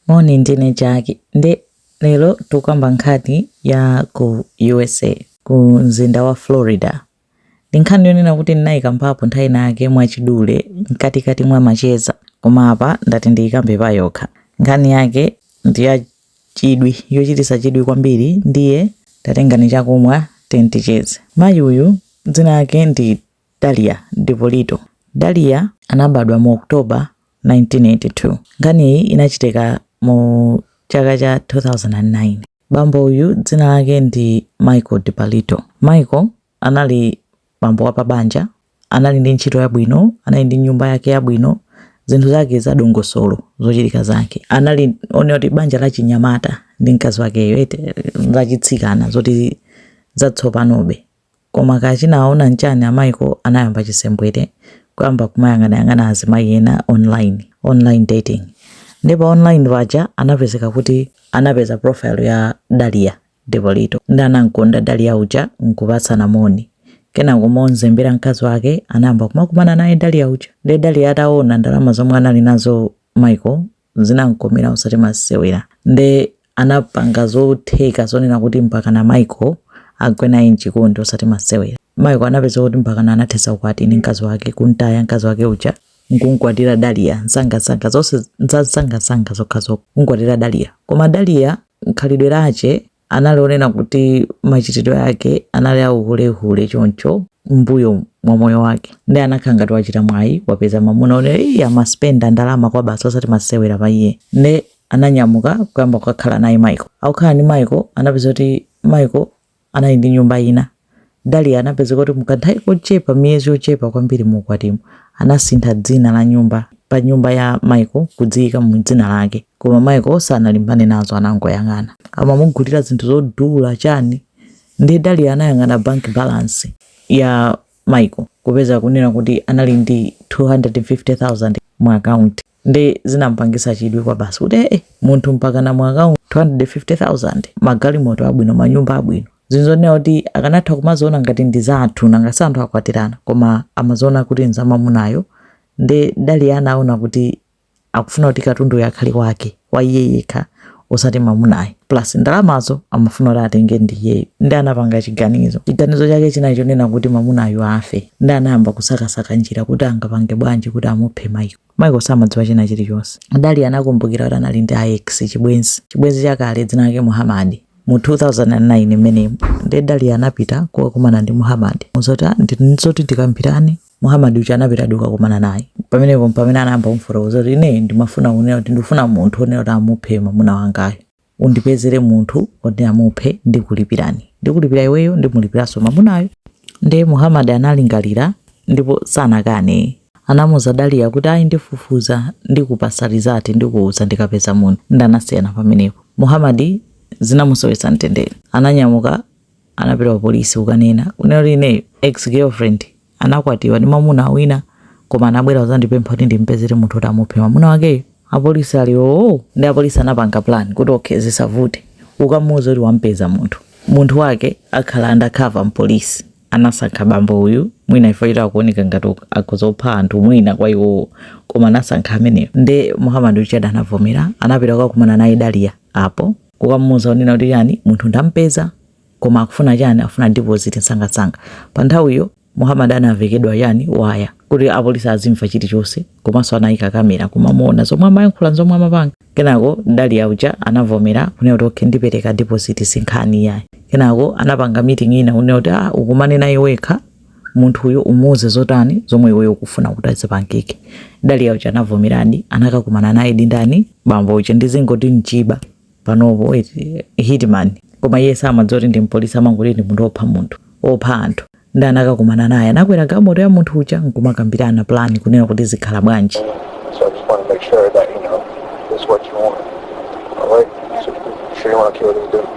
Moni ndine Jackie nde lero tikukamba nkhani ya ku usa ku mzinda wa Florida ndi nkhani yonena kuti ndinaikambapo nthawi ina yake mwachidule mkatikati mwa macheza koma apa ndati ndiikambe payokha nkhani yake ndi ya chidwi yochititsa chidwi kwambiri ndiye tatengani chakumwa tiye ticheze mayi uyu dzina lake ndi Dalia Dipolito Dalia anabadwa mu October 1982. Nkhaniyi inachitika mu chaka cha 2009. Bambo uyu dzina lake ndi Michael Dipolito. Michael anali bambo wa pabanja, anali ndi ntchito yabwino, anali ndi nyumba yake yabwino, zinthu zake za dongosolo zochitika zake anali onena kuti banja la chinyamata ndi mkazi wakeyo ete lachitsikana zoti zatsopanobe Koma kaya chinawaona nchani a Michael anayamba chisembwere kuyamba kumayang'anayang'ana azimayi ena online, online dating. Nde pa online paja anapezeka kuti anapeza profile ya Dalia Dipolito nde anamkonda Dalia uja nkupatsana moni. Kenako monzembera mkazi wake anayamba kumakumana naye Dalia uja. Nde Dalia ataona ndalama zomwe anali nazo Michael zinamkomera osati masewera nde anapanga zotheka zonena kuti mpakana Michael agwe naye mchikondi osati masewera Michael anapezeka kuti mpakana anathetsa ukwati ndi mkazi wake kumtaya mkazi wake uja nkumkwatira Dalia nsangansanga zonse nzansangansanga zokhazokha kumkwatira Dalia koma Dalia mkhalidwe lache anali onena kuti machitidwe ake anali auhulehule choncho mbuyo mwa moyo wake nde anakhala ngati wachita mwayi wapeza mamuna onena kuti amaspenda ndalama kwabasi osati masewera pa iye nde ananyamuka kuyamba kukakhala naye Michael akukhala ndi Michael anapeza kuti Michael anali ndi nyumba ina Dalia anapezeka kuti mu kanthawi kochepa, miyezi yochepa kwambiri mu ukwatimu, anasintha dzina la nyumba pa nyumba ya Michael kuliyika mu dzina lake. Koma Michael sanalimbane nazo, anangoyang'ana. Amamugulira zinthu zodula chani, ndiye Dalia anayang'ana bank balance ya Michael kupeza kunena kuti anali ndi 250,000 mu akaunti. nde zinampangitsa chidwi kwabasi kuti ee munthu mpakana mu akaunti 250,000 magalimoto abwino manyumba abwino zinzonena kuti akanatha kumaziona ngati ndi zathu nanga si anthu akwatirana koma amaziona kuti nzamamunayo nde Dalia anaona kuti akufuna kuti katunduyo akhale wake wa iye yekha osati mwamunayo plus ndalamazo amafuna kuti atenge ndi iyeyo nde anapanga chiganizo chiganizo chake chinali chonena kuti mwamunayo afe nde anayamba kusakasaka njira kuti angapange bwanji kuti amuphe Michael Michael samadziwa china chilichonse Dalia anakumbukira kuti anali ndi ex chibwenzi chibwenzi chakale dzina lake Muhammad mu 2009 imeneyo nde Dalia anapita kukakumana ndi Muhammad nzoti ndizoti tikambirane Muhammad uja anapitadi kukakumana naye. Pamenepo mpamene anayamba kumufotokoza kuti ine ndimafuna kunena kuti ndikufuna munthu wonena kuti amuphe mwamuna wangayo. Undipezere munthu woti amuphe ndikulipirani. Ndikulipira iweyo ndimulipiranso mwamunayo. Ndiye Muhammad analingalira ndipo sanakane. Anamuuza Daliya kuti ayi ndifufuza ndikupatsa result ndikuuza ndikapeza munthu. Ndiye anasiyana pamenepo. Muhammad zinamusowetsa mtendere. Ananyamuka anapita ku polisi kukanena kunena kuti ineyo ex girlfriend anakwatiwa ndi mamuna wina koma anabwera kuzandipempha kuti ndimpezere munthu oti amuphe mamuna wakeyo apolisi ali oo ndi apolisi anapanga plan kuti okay zisavute ukamuuza kuti wampeza munthu munthu wake akhala undercover mpolisi anasankha bambo uyu mwina ife chita akuoneka ngati akuzopha anthu mwina kwa iwowo koma anasankha ameneyo nde muhammad uja anavomera anapita kukakumana naye daliya apo kukamuuza kunena kuti chani munthu ndampeza koma akufuna chani akufuna deposit msangamsanga pa nthawiyo muhammad anavekedwa chani waya kuti apolisi azimva chilichonse komanso anayika kamera kumamuona zomwe amayankhula zomwe amapanga kenako daliya uja anavomera kunena kuti okay ndipereka deposit sinkhani yayi kenako anapanga meeting ina kunena kuti ah ukumane naye wekha munthuyo umuuze zotani zomwe iweyo ukufuna kuti azipangike daliya uja anavomeradi anakakumana naye ndi ndani bambo uja ndizingoti njiba panopo eti hitman koma iye samadziwa kuti ndi mpolisi amangoti ndi munthu opha munthu opha anthu ndi anakakumana naye anakwera galimoto ya munthu uja nkumakambirana plan kunena kuti zikhala bwanji So I just want to make sure that, you know, this is what you want. All right? So, sure you want to kill this dude?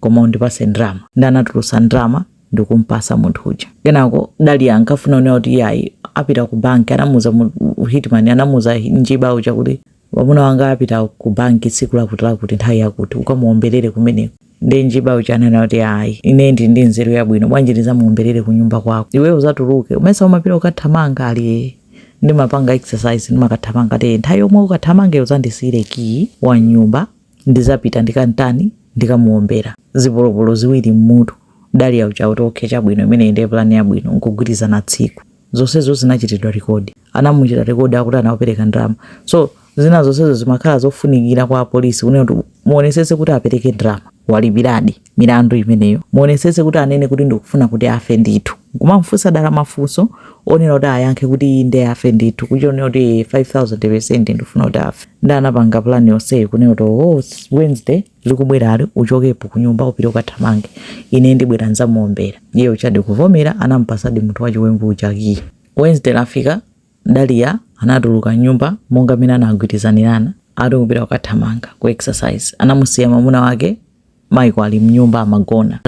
koma undipase ndalama ndi anatulusa ndalama ndikumpasa munthu uja kenako daliya ankafuna kunena kuti iyayi apita ku banki anamuuza hitman anamuuza njiba uja kuti wamuna wanga apita ku banki tsiku lakuti lakuti nthawi yakuti ukamuomberere kumeneko ndi njiba uja ananena kuti ayi ine ndili ndi nzeru yabwino bwanji ndizamuomberere ku nyumba kwako iweyo uzatuluke umesa umapita ukathamanga ali ndimapanga exercise ndimakathamanga te nthawi yomwe ukathamanga uzandisiyire kiyi wa nyumba Ndizapita ndikamtani ndikamuombera zipolopolo ziwiri mmutu Dalia uja akuti ok chabwino imeneyi ndiye plan yabwino nkugwirizana tsiku. Zonsezo zinachitidwa record. Anamuchita record akuti anaopereka ndalama. So zina zonsezo zimakhala zofunikira kwa apolisi kunena kuti muonesetse kuti apereke ndalama. Walipiradi. milandu imeneyo muonesese kuti anene kuti ndikufuna kuti afe ndithu nkumamfunsa dala mafunso onena kuti ayankhe kuti inde afe ndithu kuchionera kuti 5000% ndifuna kuti afe ndi anapanga plan yonseyo kunena kuti oh, wednesday likubwerali uchokepo kunyumba upite ukathamange ine ndibwera nzamuombera iye ujadi kuvomera anampasadi munthu wachiwembu uja kiyi wednesday lafika Daliya anatuluka mnyumba monga mmene anagwirizanirana ati kupita kukathamanga ku exercise. Anamusiya mwamuna wake Michael ali mnyumba amagona.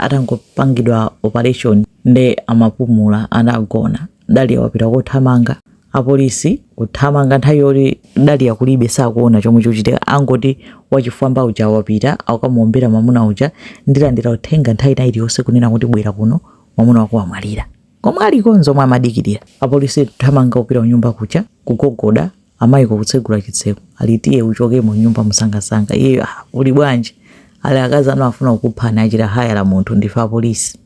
Atangopangidwa operation nde amapumula anagona. Daliya wapita kothamanga. Apolisi kuthamanga nthawi yoti Daliya kulibe sakuona chomwe chikuchitika angoti wachifwamba uja wapita akamuombera mwamuna uja ndilandira uthenga nthawi ina iliyonse kunena kuti bwera kuno mwamuna wako wamwalira. Komwe aliko nzomwe amadikilira. Apolisi kuthamanga kupita kunyumba kuja kugogoda a Michael kutsegula chitseko ali tiye uchoke mu nyumba msangamsanga iyeyo ah, ali bwanji ali akazi anu afuna kukuphani achita hayara munthu ndife apolisi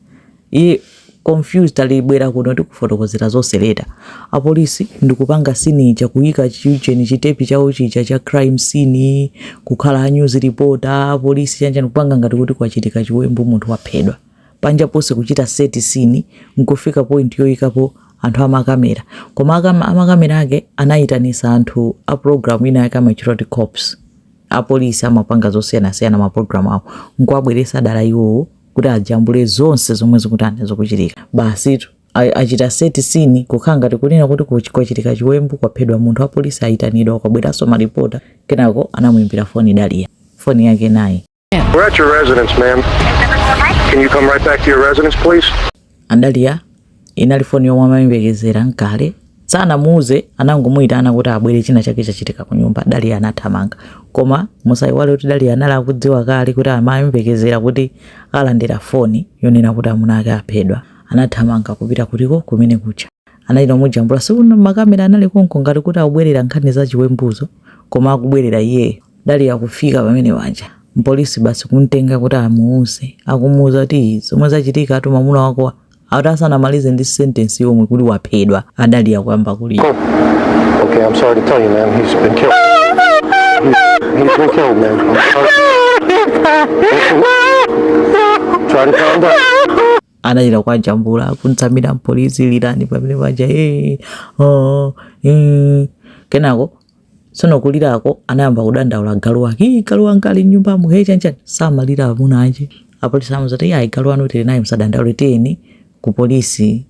iye confused ali bwera kuno tikufotokozere zonse later apolisi ndikupanga scene ija kuyika chiujeni chitepi chawo chija cha crime scene kukhala news reporter apolisi chanchani kupanga ngati kuti kwachitika chiwembu munthu waphedwa panja ponse kuchita set scene nkufika point yoyikapo anthu amakamera koma amakamera ake anayitanisa anthu a program ina yake amatchula kuti cops apolisi amapanga zosiyanasiyana ma program awo nkuwabweretsa dala iwowo kuti ajambule zonse zomwe zikutani zikuchitika basitu a- achita set scene kukhala ngati kunena kuti kuchi- kwachitika chiwembu kwaphedwa munthu apolisi ayitanidwa kwabweranso maripota kenako anamuimbira foni daliya foni yake naye We're at your residence, ma'am. Can you come right back to your residence, please? A Dalia inali foni yomwe amayembekezera nkale sanamuuze anangomuyitana kuti abwere china chake chachitika ku nyumba Dalia anathamanga koma musayiwale kuti Dalia anali akudziwa kale kuti amayembekezera kuti alandira foni yonena kuti amuna ake aphedwa anathamanga kupita kutiko kumene kuja anachita kumujambula si kuno makamera anali konko ngati kuti akubwerera nkhani za chiwembuzo koma akubwerera iyeyo Daliya kufika pamene paja mpolisi basi kumtenga kuti amuuze, akumuuza kuti zomwe zachitika ati mamuna wako ati asanamalize ndi sentensi yomwe kuti waphedwa a Daliya kuyamba kulira. Oh, okay, I'm sorry to tell you, ma'am. He's been killed. He, he's been killed, ma'am. I'm sorry. Try to calm down. anachita kuwajambula kumtsamira mpolisi lirani pamene paja eh, oh, eh. kenako Tsono kulirako anayamba kudandaula galu wake, ii galu wanga ali m'nyumbamo, he chanchani, samalira amuna ache. Apolisi anamuuza kuti, ayi galu wanu tili naye musadandaule, tiyeni ku polisi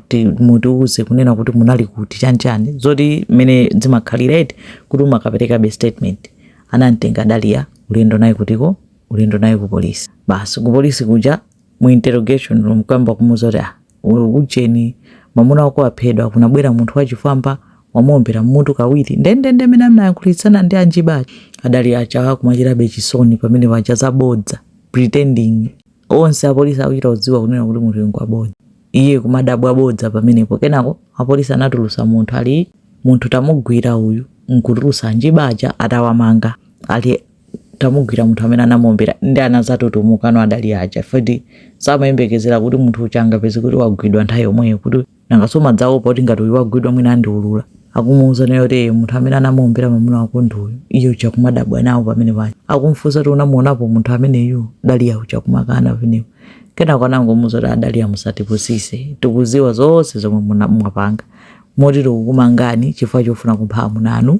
ti- mutiuze kunena kuti munali kuti chanchani, monga mmene zimakhalira eti kuti umakaperekabe statement. Anamtenga Dalia ulendo naye kutiko, ulendo naye ku polisi. Basi ku polisi kuja mu interrogation room kuyamba kumuuza kuti ah ujeni mamuna wako waphedwa kunabwera munthu wachifwamba wamuombera mmutu kawiri ndendende mmene anayankhulitsana ndi anjiba aja adaliya aja kumachitabe chisoni pamene paja zabodza pretending onse apolisi akuchita kudziwa kunena kuti munthu ngwabodza iye kumadabwa bodza pamenepo kenako apolisi anatulusa munthu ali munthu tamugwira uyu nkutulusa anjiba aja atawamanga ali tamugwira munthu amene anamuombera nde anadzatutumukano adaliya aja fedi samayembekezera kuti munthu uja angapezeke kuti wagwidwa nthawi yomweyo kuti nangaso amadzaopa kuti ngati uyu wagwidwa mwina andiulula akumuuza naye kuti "Eh, munthu amene anamuombera mamuna wako ndi uyu iye uja kumadabwa nawo pamene paja akumfunsa kuti unamuonapo munthu ameneyu daliya uja kumakana pamenepo kenako anangomuuza kuti adaliya musatipusise tikuziwa zonse zomwe muna- mwapanga moti tikukumangani chifukwa chofuna kupha amuna anu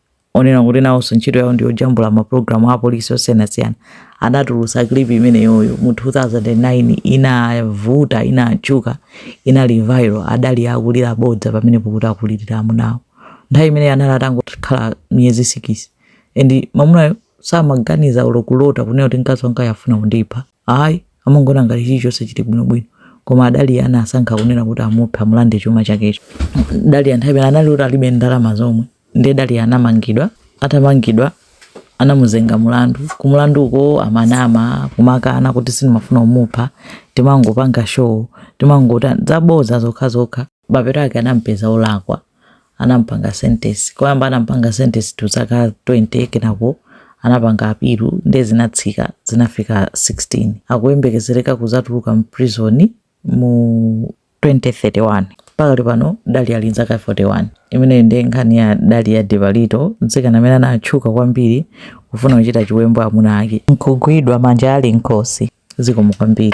onena kuti nawonso ntchito yawo ndi yojambula mapulogalamu a apolisi osiyanasiyana anatulusa clip imeneyoyo mu 2009 inavuta inatchuka inali viral adaliya akulira bodza pamenepo kuti akulirira amunawo nthawi imeneyo anali atangokhala miyezi sikisi and mamunayo samaganiza olo kulota kunena kuti mkazi wanga afuna kundipha ayi amangoona ngati chilichonse chili bwinobwino koma adaliya anasankha kunena kuti amuphe amulande chuma chakecho daliya nthawi anali kuti alibe ndalama zomwe Nde Daliya anamangidwa, atamangidwa anamuzenga mulandu, kumulandu uko amanama kumakana kuti sinimafuna umupha, timangopanga show, timangota zaboza zokha zokha, mapeto ake anampeza olakwa anampanga sentence, koyamba anampanga sentence to zaka 20 kenako anapanga apilu nde zinatsika zinafika 16, akuyembekezereka kuzatuluka mu prison mu. 2031 pakali pano daliya ali nzaka 41 imeneyi ndi nkhani ya daliya dippolito mtsikana amene anatchuka kwambiri kufuna kuchita chiwembu amuna ake nkugwidwa manja ali mkhosi zikomo kwambiri